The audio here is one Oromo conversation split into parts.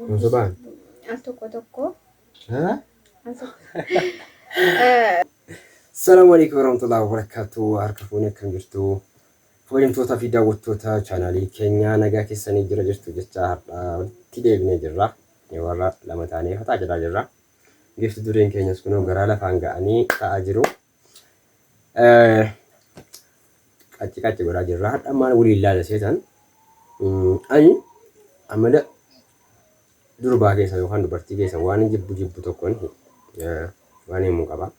Hin sobaan. Al tokko tokko. Haa? Al tokko. Eh, Salaamu alaikum warahmatullahi wabarakatuh. Harka fuunee akkam jirtu? Kabajamtootaa fi daawwattoota chaanaalii keenyaa nagaa keessanii jira jirtu jechaa har'a walitti deebinee jirra. Warra lama taanee fataa jedhaa jirra. Giifti dureen keenyas kunoo garaa lafaan ga'anii ta'aa jiru. Qacci qacci godhaa jirra. Hadha maal waliin laala seetan. Ani amala durbaa keessa yookaan dubartii keessa waan jibbu jibbu tokkon waan himu qaba.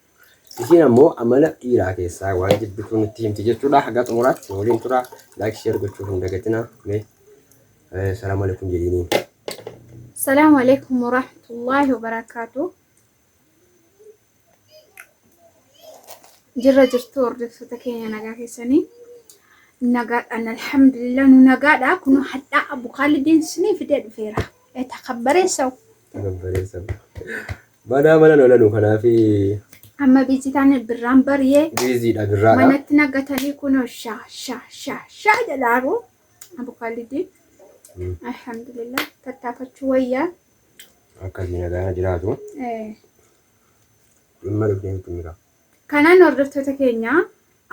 Isiin ammoo amala dhiiraa keessaa waan jibbitu nutti himti jechuudha. Haga xumuraatti nu waliin tura. Laayik sheer gochuu hin dagatina. Mee salaamu alaikum jedhiiniin. Salaamu alaikum warahmatullaahi wabarakaatu. jirra jirtu hordoftoota keenya nagaa keessanii nagaadhaan alhamdulillah nu nagaadha kun hadhaa abu kaalideen sinii fidee dhufeera eta kabbareessaw Gambareessa. Manaa mana lolanu kanaaf amma biizi taane birraan bariyee biiziidha birraadha. manatti nagatanii kunoo shaa shaa shaa shaa jedhaaru abu kaalideen alhamdulillah tattaafachuu wayyaa Akka sii nagaana jiraatu. Eh. Dhimma dhuftee sitti himika. Kanaan hordoftoota keenya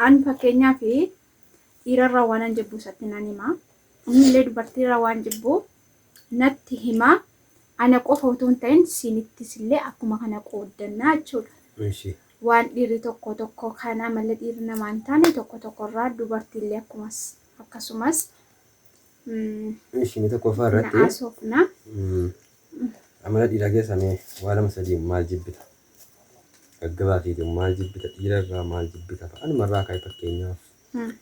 an fakkeenyaaf dhiirarraa waanan jibbu isatti nan hima. Innillee dubartiirraa waan jibbu natti hima. Ana qofa utuu hin ta'in siinittis illee akkuma kana qooddannaa jechuudha. Ishi. Waan dhiirri tokko tokko kan amala dhiirri namaa hin taane tokko tokkorraa dubartiillee akkumas akkasumas Ishii tokkoffaa na irratti haasofna. mm, amala dhiiraa keessaa mee waa lama sadii maal jibbita? Gaggabaa fi ijoon maal jibbita? Dhiira irraa maal jibbita? Anuma irraa ka'e fakkeenyaaf Mm.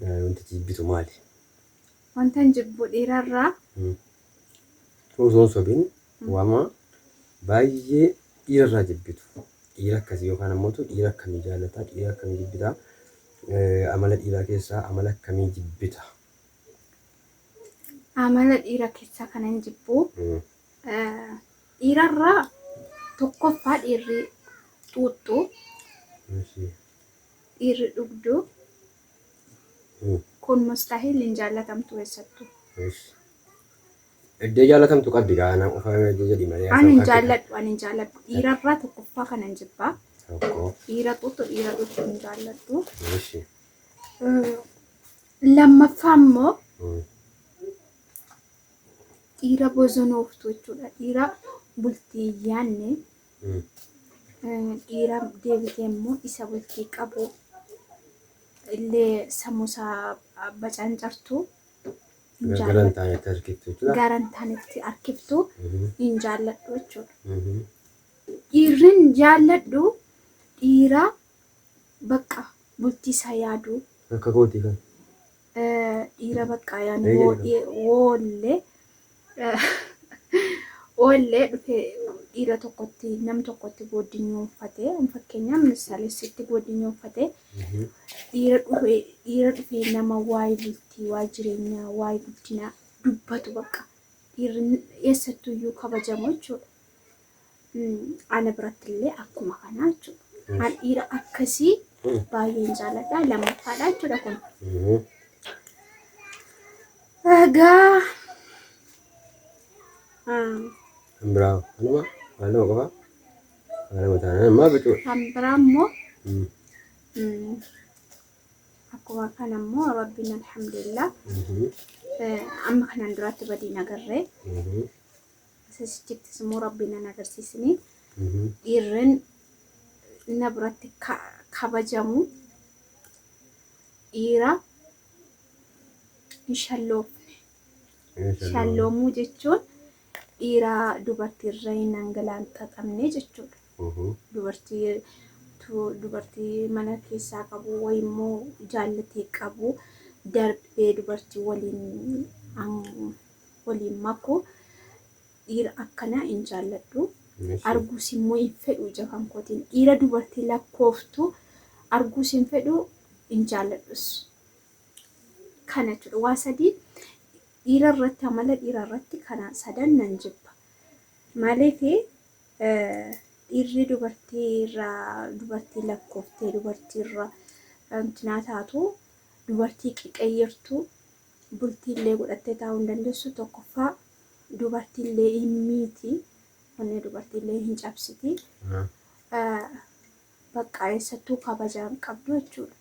eh, wantichi jibbitu maali? Wantan jibbu dhiirarraa Mm. Osoo hin sobin Wama baay'ee dhiira irraa jibbitu. Dhiira akkasii yookaan ammootu dhiira akkamii jaallata? Dhiira akkamii jibbita? Amala dhiiraa keessaa amala akkamii jibbita? Amala dhiira keessaa kanan jibbu dhiirarraa tokkoffaa dhiirri xuuxxu, dhiirri dhugdu, Kun mustahil hin jaallatamtu eessattu. Ush. Eddee jaalatamtu qabdi gaa anaa qofaa miti jedhi malee An hin jaalladhu an hin jaalladhu dhiirarraa tokkoffaa kanan jibba. Tokko. Dhiira xuuxu dhiira xuuxu hin jaalladhu. Ush. Lammaffaa immoo dhiira bozonooftu jechuudha. Dhiira bultii yaanne Dhiira deebitee immoo isa bultii qabu illee sammuu isaa bacancartu hin Gara gara hin jaalladhu. taanetti harkiftu jechuudha. Gara hin taanetti harkiftu hin jaalladhu jechuudha. Dhiirri hin jaalladhu dhiira bakka bultii isaa yaadu Akka kooti kan. dhiira baqqaa yaani woollee woollee dhufee dhiira tokkotti nam tokkotti gooddinyuu uffatee fakkeenyaaf misaalessitti gooddinyuu uffatee dhiira dhufee dhiira dhufee nama waa'ee bultii waa'ee jireenyaa waa'ee guddinaa dubbatu bakka dhiirri eessattuyyuu kabajamu jechuudha. Ana biratti illee akkuma kanaa jechuudha. An dhiira akkasii baay'een jaaladha. Lammaffaadha jechuudha kun. Egaa Kan biraa anuma waan nama qofaa waan nama taanaan ammaa bituu. kan biraa immoo akkuma kana immoo rabbiin alhamdulillah amma kanaan duraatti badiin agarree Sasichittis immoo rabbiin nan agarsiisne dhiirren na biratti kabajamu dhiira hin shalloofne. Shalloomuu jechuun dhiira dubartii irra hin angalaanxaxamne jechuudha. Dubartii dubartii mana keessaa qabu wayi immoo jaallatee qabu darbee dubartii waliin waliin makuu dhiira akkanaa hin jaalladhu arguus immoo hin fedhu ija kan kootiin dhiira dubartii lakkooftu arguus hin fedhu hin jaalladhus kana jechuudha waa sadii dhiira irratti amala dhiira irratti kana sadan nan jibba maaliif dhiirri dubartii irraa dubartii lakkooftee dubartii irra intinaa taatu dubartii qiqayyirtu bultii illee godhattee taa'uu hin dandeessu tokkoffaa dubartii illee hin miiti onnee dubartii illee hin cabsiti baqqaa eessattuu kabajaa hin qabdu jechuudha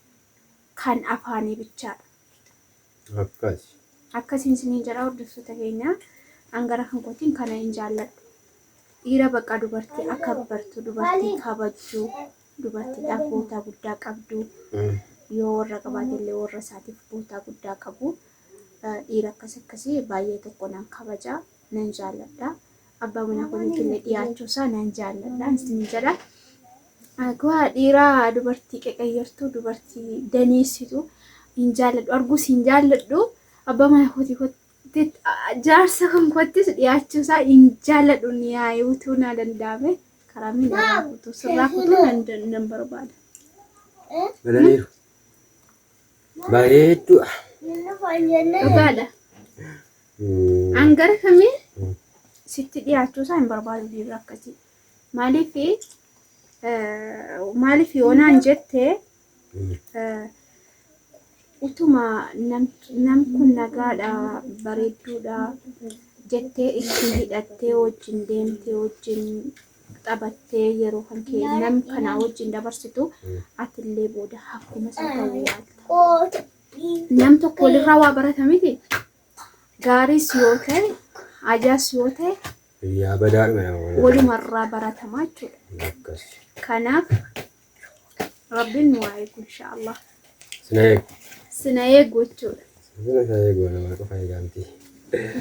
kan afaanii bichaadha. Akkas. Akkasiin isiniin jedha hordoftoota keenya hangara kan kootiin kana hin jaalladhu. Dhiira baqqaa dubartii akka bartu dubartii kabajju dubartiidhaaf bootaa guddaa qabdu. Yoo warra qabaate illee warra isaatiif bootaa guddaa qabu. Dhiira akkas akkasii baay'ee tokko nan kabaja, nan jaalladha. Abbaa manaa kootiitti illee dhiyaachuu isaa nan jaalladha. Isin jedha. Akkuma dhiiraa dubartii qeqayyartuu, dubartii daneessitu hin jaalladhu. Arguus hin jaalladhu. Abbaa manaa kootii Jaarsa konkoottis dhiyaachuu isaa hin jaalladhu niyaa'ee utuu naa danda'ame karaa miidhagaa kutuu sirraa kutuu nan dan- nan barbaada. Galaniiru. Bareedduu. Dhugaadha. Mm. An gara kamii Mm. sitti dhiyaachuu isaa hin barbaadu dhiirri akkasii. Maaliif maaliif yoonaan jette Utuma nam kun nagaadha, bareedduudha jettee ittiin hidhattee wajjin deemtee wajjin taphattee yeroo kan kee nam kanaa wajjin dabarsitu atillee booda akkuma isaa ta'uu yaalta. Nam tokko walirraa waa barata miti. Gaariis yoo ta'e, ajaas yoo ta'e Yaa badaadhuma nama waliin. walumarraa baratamaa jechuudha. Akkas. Kanaaf Rabbiin nu haa eegu inshaallah. Sina eegu. Sina eegu jechuudha. Sina isaa eegu nama qofa eegaa miti.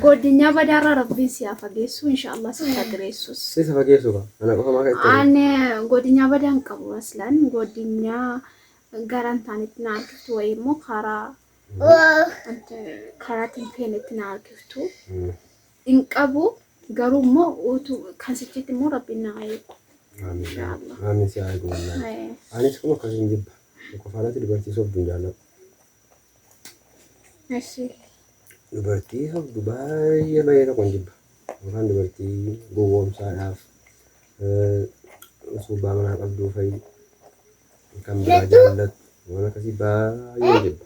Godinyaa badaarra Rabbiin si haa fageessu inshaallah si haa direessus. Sisa fageessu qaba. Ana qofa maa ka'e. An godinyaa badaan qabu aslan godinyaa garan taanitti na harkiftu wayii immoo karaa karaa tinfeenetti na harkiftu. hin qabu garuu immoo utu kan sichitti immoo rabbiin na haa eegu Inshallah. Amin si haa goonaa. Eh, Anis kun akkas hin jibba. Qofaarratti dubartii sobdu hin jaalladhu. eshi Dubartii sobdu baay'ee baay'ee tokko hin jibba. Yookaan dubartii gowwoomsaadhaaf eh, subbaa manaa qabduu fa'i kan biraa jaallattu waan akkasii baay'ee hin jibba.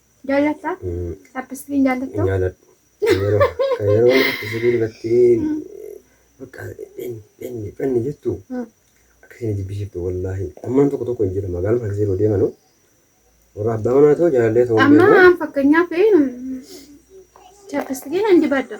Jaallatta? Mm, Chaappistikiin jaallatta? hin jaaladhu. Kan yeroo kan yeroo akkasii irratti bakka dhenni dhenni dhenni jettu Mm. akkasii na jibbisiiftu wallaahi. Ammaan tokko tokko hin jira magaaluma akkasii yeroo deemanu warra abbaa manaa ta'uu jaalallee ta'uu hin Amma beeku. an fakkeenyaaf chaappistikiin hin dibadha.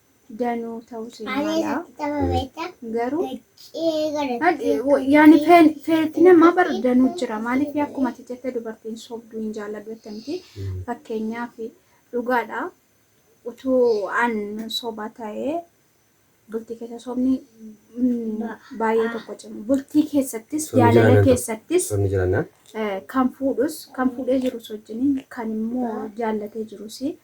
danuu ta'uu seen mala garuu yaani feetti namaa bar danuu jira maaliif akkuma ati jette dubartiin sobduu hin jaalladhu jette miti fakkeenyaaf dhugaadha utuu an soba ta'ee bultii keessa sobni baay'ee tokko cimu bultii keessattis jaalala keessattis kan fuudhus kan fuudhee jirus wajjin kan immoo jaallatee jirus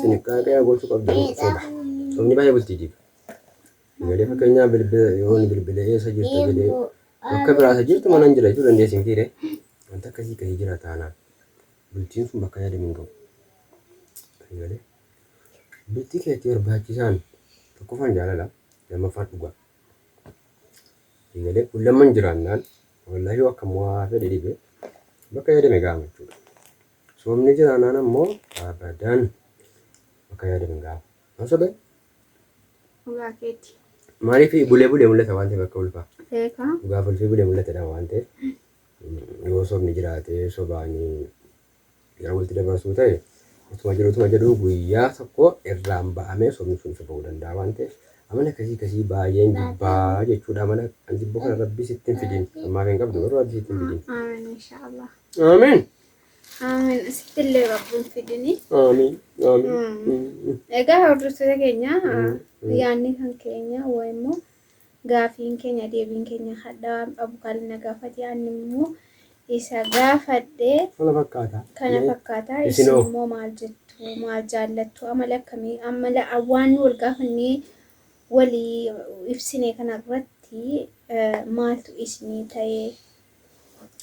Xinniqqaaqee gochuu qabdan soba. Sobni baay'ee bultii diiga. Galee fakkeenyaa bilbila yoon bilbila eessa jirta jedhee bakka biraa isa jirtu manan jira jechuu dandeessi mitiire. Wanta akkasii ka'ee jira taanaan bultiin sun bakka yaadame hin ga'u. Galee bultii keetti barbaachisaan tokkoffaan jaalala lammaffaan dhugaa. Galee kun lamman jiraannaan wallahi yoo akka mo'aa fedhe dhibe bakka yaadame ga'ama jechuudha. Soomni jiraanaan ammoo abadan bakka yaadame hin gahu. Haa sobe? Dhugaa keeti. Maaliif bulee bulee mul'ata waan ta'eef akka ulfaa. Beekaa. Dhugaaf ulfii bulee mul'ata jedhama waan ta'eef mm, yoo sobni jiraate sobaanii yeroo walitti dabarsuu ta'e utuma jiru utuma jedhu guyyaa tokko irraan ba'amee sobni sun isa ba'uu danda'a waan ta'eef amala akkasii akkasii baay'een jibbaa jechuudha amala an jibbu kana rabbi sitti hin fidin ammaaf hin qabdu garuu rabbi sitti hin fidin Amiin inshaallah. Amiin. Amiin. Asitti illee rabbuun fidini. Aamiin. Aamiin. Egaa hordoftoota keenya yaadni kan keenya waa immoo gaafiin keenya deebiin keenya hadhaa abukaalli na gaafate ani immoo isa gaafadhe Kana fakkaata. kana fakkaata isin Isinoo. immoo maal jettu maal jaallattu amala akkamii amala waan nu wal gaafannee walii ibsine kana irratti eh, maaltu isinii ta'ee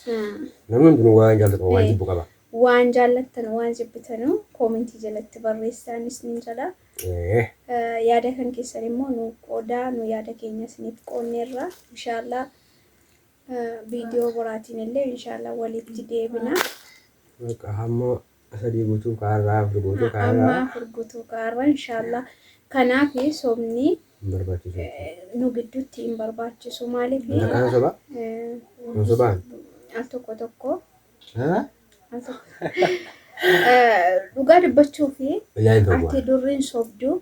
Haa. Namni hundinuu waan jaallatu qaba, waan jibbu qaba. Waan jaallattan, waan jibbitanu koomentii jalatti barreessaa inni isiniin jala. Ee. Yaada kan keessan immoo nuuf qoodaa, nu yaada keenya isiniif qoonneerra. Inshaallah viidiyoo biraatiin illee inshaallah walitti deebina. Bakka hamma sadii gutuu ka har'aa afur gutuu ka har'aa. Amma afur gutuu ka har'aa inshaallaa kanaaf sobni nu gidduutti hin barbaachisu maaliif. Isa kanan soba? Hin sobaan? Al tokko tokko. Al tokko. Dhugaa dubbachuuf ati durriin sobdu.